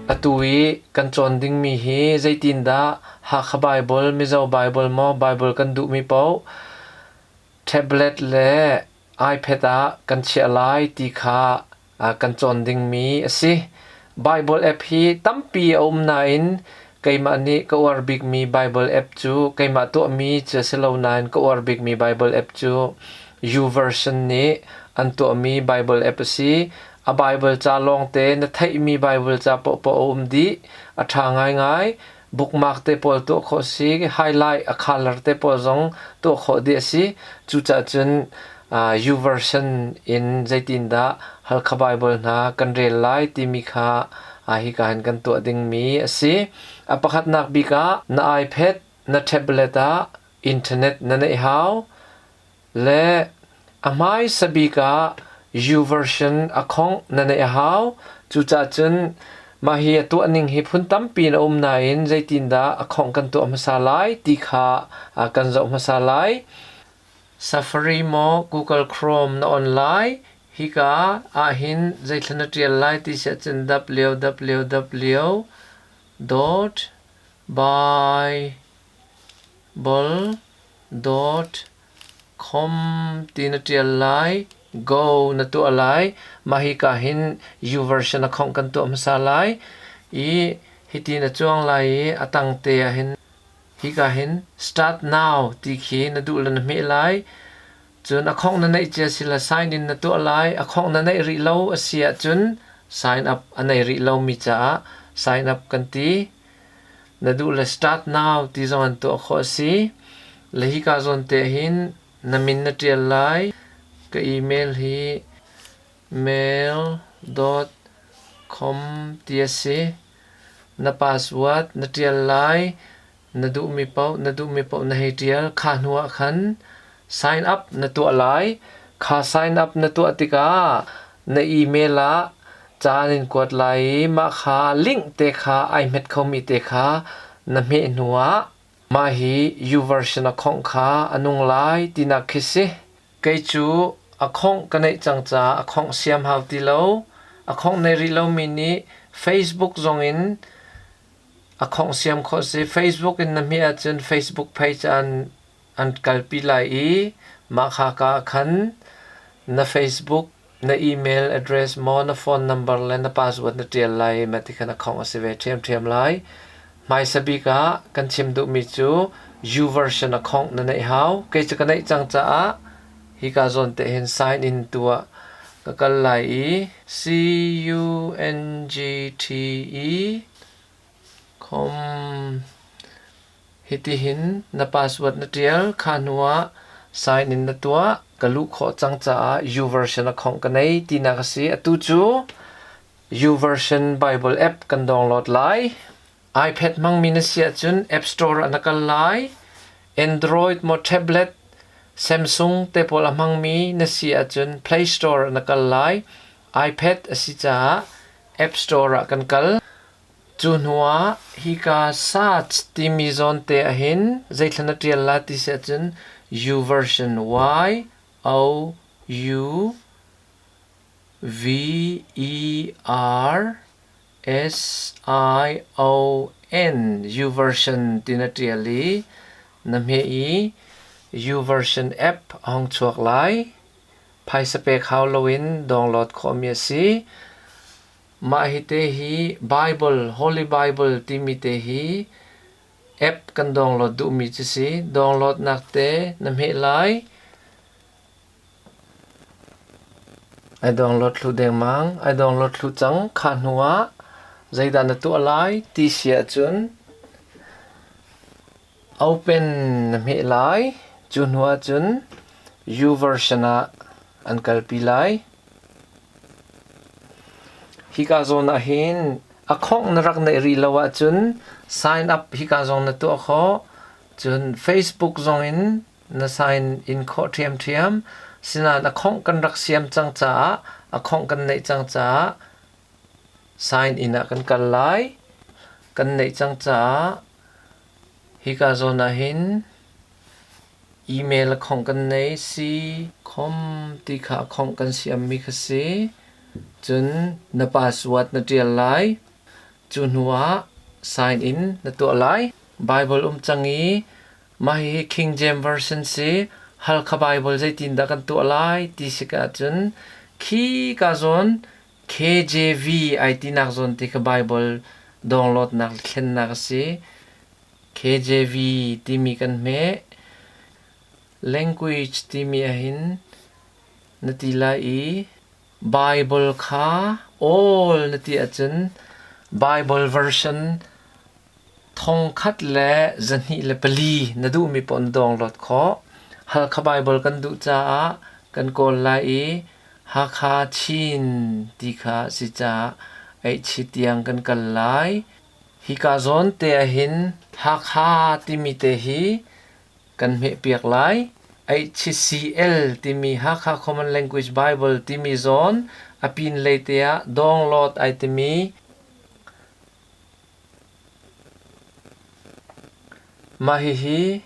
Atu i kan cawn dingmi hi zeitindah Hakha Baibal, Mizo Baibal maw Baibal kan duhmi paoh tablet le iPad ah kan chiah lai ti kha kan cawn dingmi a si. Baibal app hi tampi a um nain keimah nih ka uar bikmi Baibal app cu keimah tuahmi cu a si lo nain ka uar bikmi Baibal app cu YouVersion nih an tuahmi Baibal app a si. A Baibal ca lawngte na theihmi Baibal ca paohpaoh a um dih. A ṭha ngaingai. Bookmark te pawl tuah khawh si, highlight a color te pawl zong tuah khawh dih a si. Cucaah cun U-version in zeitindah Halkha Baibal hna kan rel lai timi kha hika hin kan tuah dingmi a si. A pakhatnak bik ah na iPad, na tablet ah Internet na neih hau. Le a hmaisa bik ah U-version a khongh na neih a hau. Cucaah cun mah hi a tuah ning hi phun tampi in a um nain zeitindah a khongh kan tuah hmasa lai ti kha kan zoh hmasa lai. Safari maw Google Chrome na on lai? Hika ahhin zeithla na ṭial lai ti si ahcun www.by Bol dawt khom ti na ṭial lai. Go na tuah lai. Mah hika hin U version a khongh kan tuah hmasa lai i hiti na cuang lai i a tangte ah hin hika hin Start now ti khi na duh le na hmeh lai. Cun a khongh na neih cia si le sign in na tuah lai. A khongh na neih rih lo a si ahcun sign up a nei rih lomi caah sign up kan ti. Na duh le start now ti zong an tuah khawh a si. Le hika zawn te hin na min na ṭial lai. Ka email hi mail.com ti a si. Na password na ṭial lai. Na duhmi paoh na duhmi paoh na hei ṭial. Kha hnu ah khan Sign up na tuah lai. Kha sign up na tuah tikah na email ah caan in kuat lai i mah kha link te kha ai hmet khomi te kha na hmeh hnuah mah hi YouVersion a khawngh kha a nung lai tinak khi si. Kei cu a khawngh ka neih cang caah a khawngh siam hau ti lo. A khawngh nei rih lomi nih Facebook zongin a khawngh siam khawh si. Facebook in na hmeh ahcun Facebook page ah an an kalpi lai i mah khaka ah khan na Facebook, na email address maw na phone number le na password na ṭial lai ma ti khan a khawng a si ve ṭhiamṭhiam lai. Hmaisa bik ah kan chim duhmi cu YouVersion a khawngh na neih hau. Kei cu ka neih cang caah hika zawn te hin sign in tu ah ka kal lai i C-U-N-G-T-E com Hitihin na password na ṭial kha hnuah sign in na tuah. Ka luh khawh cang caah U-version account ka nei tinak a si. Atu cu U-version Bible app kan download lai. iPad hmangmi na si ahcun App Store ah na kal lai. Android maw tablet, Samsung te pawl a hmangmi na si ahcun Play Store ah na kal lai. iPad a si caah App Store ah kan kal. Cu hnuah hika Sach timi zawnte ahhin zeithla na ṭial lai ti si ahcun U version Y O U V E R S I O N U version ti na ṭial i na hmeh i U version app a hong chuak lai. Phaisa pek hau loin download khawhmi a si. Mah hite hi Baibal, Holy Bible timi te hi app kan download duhmi cu si. Downloadnak te na hmeh lai. Ai download thlu dengmang. Ai download thlu cang. Kha hnu ah zeidah na tuah lai ti si ahcun Open na hmeh lai. Cu hnu ahcun YouVersion ah an kalpi lai. Hika zawn ahhin a khongh na rak neih rih lo ahcun sign up hika zong na tuah khawh. Cun Facebook zongin na sign in khawh ṭhiamṭhiam. Sinain a khongh kan rak siam cang caah, a khongh kan neih cang caah sign in ah kan kal lai. Kan neih cang caah Hika zawn ahhin email a khawngh kan nei si, khom ti kha a khawngh kan siammi kha si. Cun na password na ṭial lai. Cu hnuah sign in na tuah lai. Baibal um cang i mah hihi King James Version si, Halkha Baibal zeitindah kan tuah lai ti si ka ahcun khika zawn KJV ai tinak zawn te kha Baibal dawnglawtnak thlennak a si. KJV timi kan hmeh. Language timi ahhin na ti lai i Bible kha awl na ti ahcun Bible version Thong khat le zahnih le pali na duhmi paoh na download khawh. Halkha Baibal kan duh caah kan kawl lai i Hakha Chin ti kha a si caah Aihchi tiang kan kal lai. Hika zawn te ahhin Hakha timi te hi kan hmehpiak lai. HCL timi Hakha Common Language Bible timi zawn a pinlei te ah download ai timi Mah hihi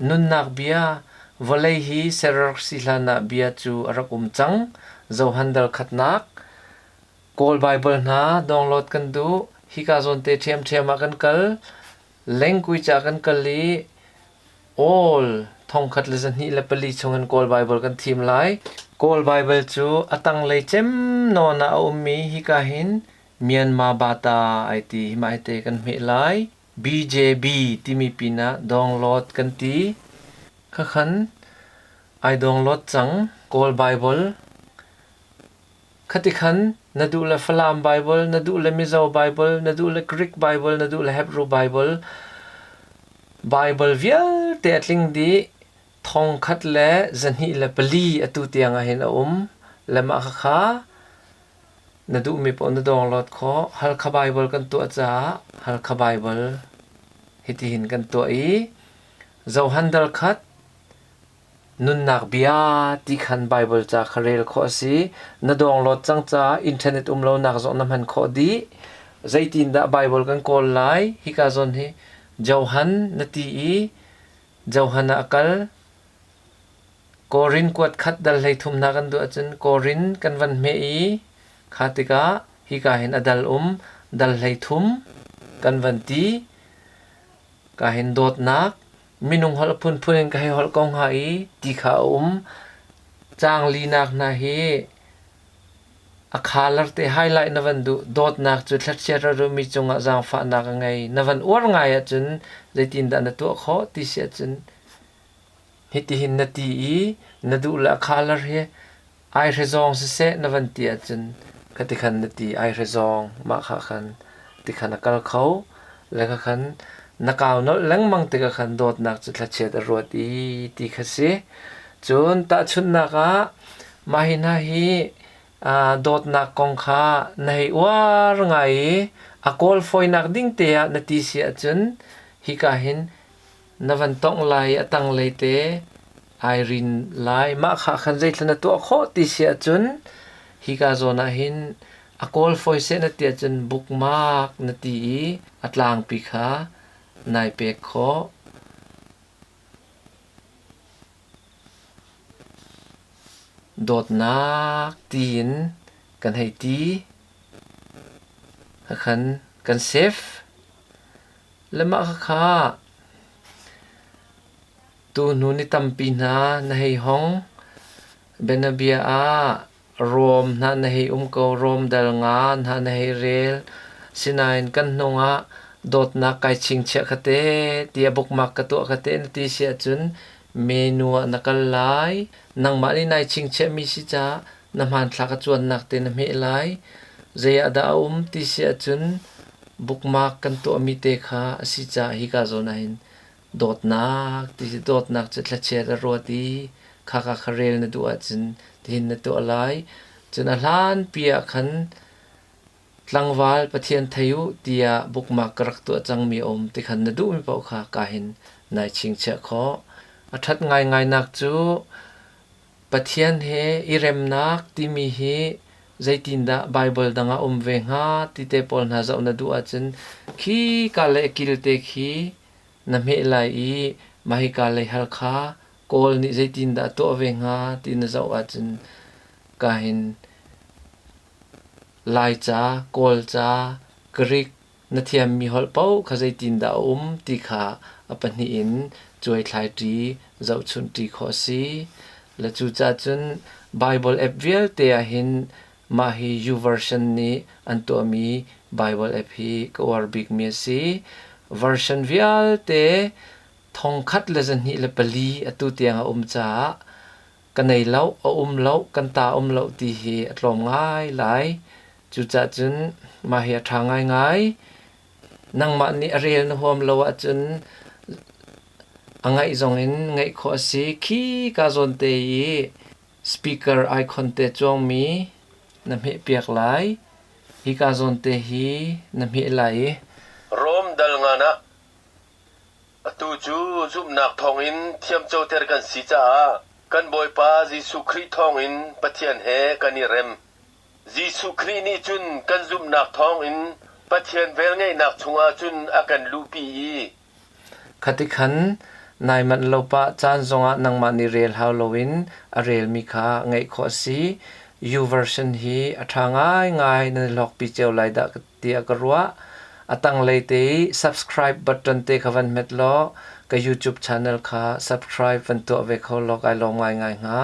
nunnak bia vawlei hi Serersi hlanah bia cu a rak um cang. Johan Dalkhatnak Kawl Baibal hna download kan duh. Hika zawnte ṭhiamṭhiam ah kan kal. Lengkuica kan kal i awl thongkhat le zahnih le pali chung in Kawl Baibal kan thim lai. Kawl Baibal cu a tanglei cem nawn ah a ummi hika hin Myanmar bata ai ti hi mah hite kan hmeh lai. BJB timi pinah download kan ti. Khakhan ai download cang Kawl Bible. Khati khan na duh le Falam Bible, na duh le Mizo Bible, na duh le Greek Bible, na duh le Hebrew Bible. Bible vialte a tling di thong khat le zahnih le pali atu tiang ah hin a um. Le mah khakha Na duhmi paoh na dawrhlawt khawh. Halkha Baibal kan tuah caah Halkha Baibal hitihin kan tuah i zohan darkhat nunnak bia ti khan Baibal ca kha rel khawh a si. Na dawrhlawt cang caah internet um lonak zong na hman khawh dih. Zeitindah Baibal kan kawl lai? Hika zawn hi Johan na ti i Johan ah a kal. Korin kuatkhat dal hleithumnak an duh ahcun Korin kan van hmeh i kha tikah hika hin a dal um dal hleithum kan van ti. Ka hin dawtnak minung holh phunphun in ka hei holh ko hnga i ti kha a um. Caang linak hna hi a khalar te highlight na van duh dawtnak cu thlatchia rarumi cungah zaangfahnak a ngei na van uar ngai ahcun zeitindah na tuah khawh ti si ahcun Hitihin na ti i na duh le a khalar hi aihre zawng siseh na van ti ahcun ka tikhan na ti aihre zawng mah kha khan tikhan a kal kho le kha khan na kau nolh lengmang tikah khan dawtnak cu thlachiat a ruat i ti kha si cun tahchunhnak ah mah hi hna hi dawtnak kong kha na hei uar ngai i a kawl fawinak ding te ah na ti si ahcun hika hin Na van tongh lai i a tanglei te ai rin lai. Mah kha khan zeitluk na tuah khawh ti si ahcun hika zawn ah hin a kawl fawi seh na ti ahcun bookmark na ti i a tlangpi kha nai pek khawh. Dawtnak tiin kan hei ti. Khakhan kan save. Le mah khakha tuhnu ni tampi hna na hei hong. Bianabia ah rawm hna na hei um ko. Rawmdal nga hna na hei rel. Sinain kan hnung ah dawtnak kai chingchiah ka te tiah bukmak ka tuah ka te na ti si ahcun menu ah na kal lai. Nangmah nih nai chingchiahmi si caah. Na hmanthlak a cuannak te na hmeh lai. Zei ah dah a um ti si ahcun bookmark kan tuahmi te kha a si caah hika zawn ah hin dawtnak ti si dawtnak cu thlachiat a ruat i khaka kha rel na duh ahcun tihin na tuah lai. Cun a hlanpi ah khan tlangval Pathian thei u tiah bookmark ka rak tuah cangmi a um ti khan na duhmi paoh kha ka hin nai chingchiah khawh. A ṭhat ngaingainak cu Pathian he i remnak timi hi zeitindah Baibal dang ah a um ve hnga ti te pawl hna zoh na duh ahcun khi ka leh kilte khi na hmeh lai i mah hi ka lei hal kha Kawl nih zeitindah a tuah ve hnga ti na zoh ahcun ka hin Laica, Kawlca, Greek na thiammi holh paoh kha zeitindah a um ti kha a pahnih in cuaithlai ṭi, zohchunh ṭi khawh a si. Le cucaah cun Baibal app vialte ah hin mah hi YouVersion nih an tuahmi Baibal app hi ka uar bikmi a si. Version vialte thong khat le zahnih le pali atu tiang a um caah ka nei loh, a um loh, kan ta um loh ti hi a tlawm ngailai. Cucah cun mah hi a ṭha ngaingai. Nangmah nih a rel na huam lo ahcun a ngaih zongin ngaih khawh a si. Khi ka zawn te i speaker icon te cuangmi na hmehpiak lai. Hi ka zawn te hi na hmeh lai i. Rom dal ngan ah. Atu cu zumhnak thawngin thiamcoter kan si caah kan Bawipa Jesuh Khrih thawngin Pathian he kan i rem. Jesuh Khrih nih cun kan zumhnak thawngin Pathian velngeihnak chungah cun a kan luhpi i, Khati khan nai manh lo pah caan zongah nangmah nih rel hau loin a relmi kha ngaih khawh a si. U Version hi a ṭha ngaingai nan i hlawkpi cio lai dah ka ti. tiah ka ruah. A tanglei te i subscribe button te kha van hmet law ka YouTube channel kha subscribe van tuah ve kho law kai lawm ngaingai hnga.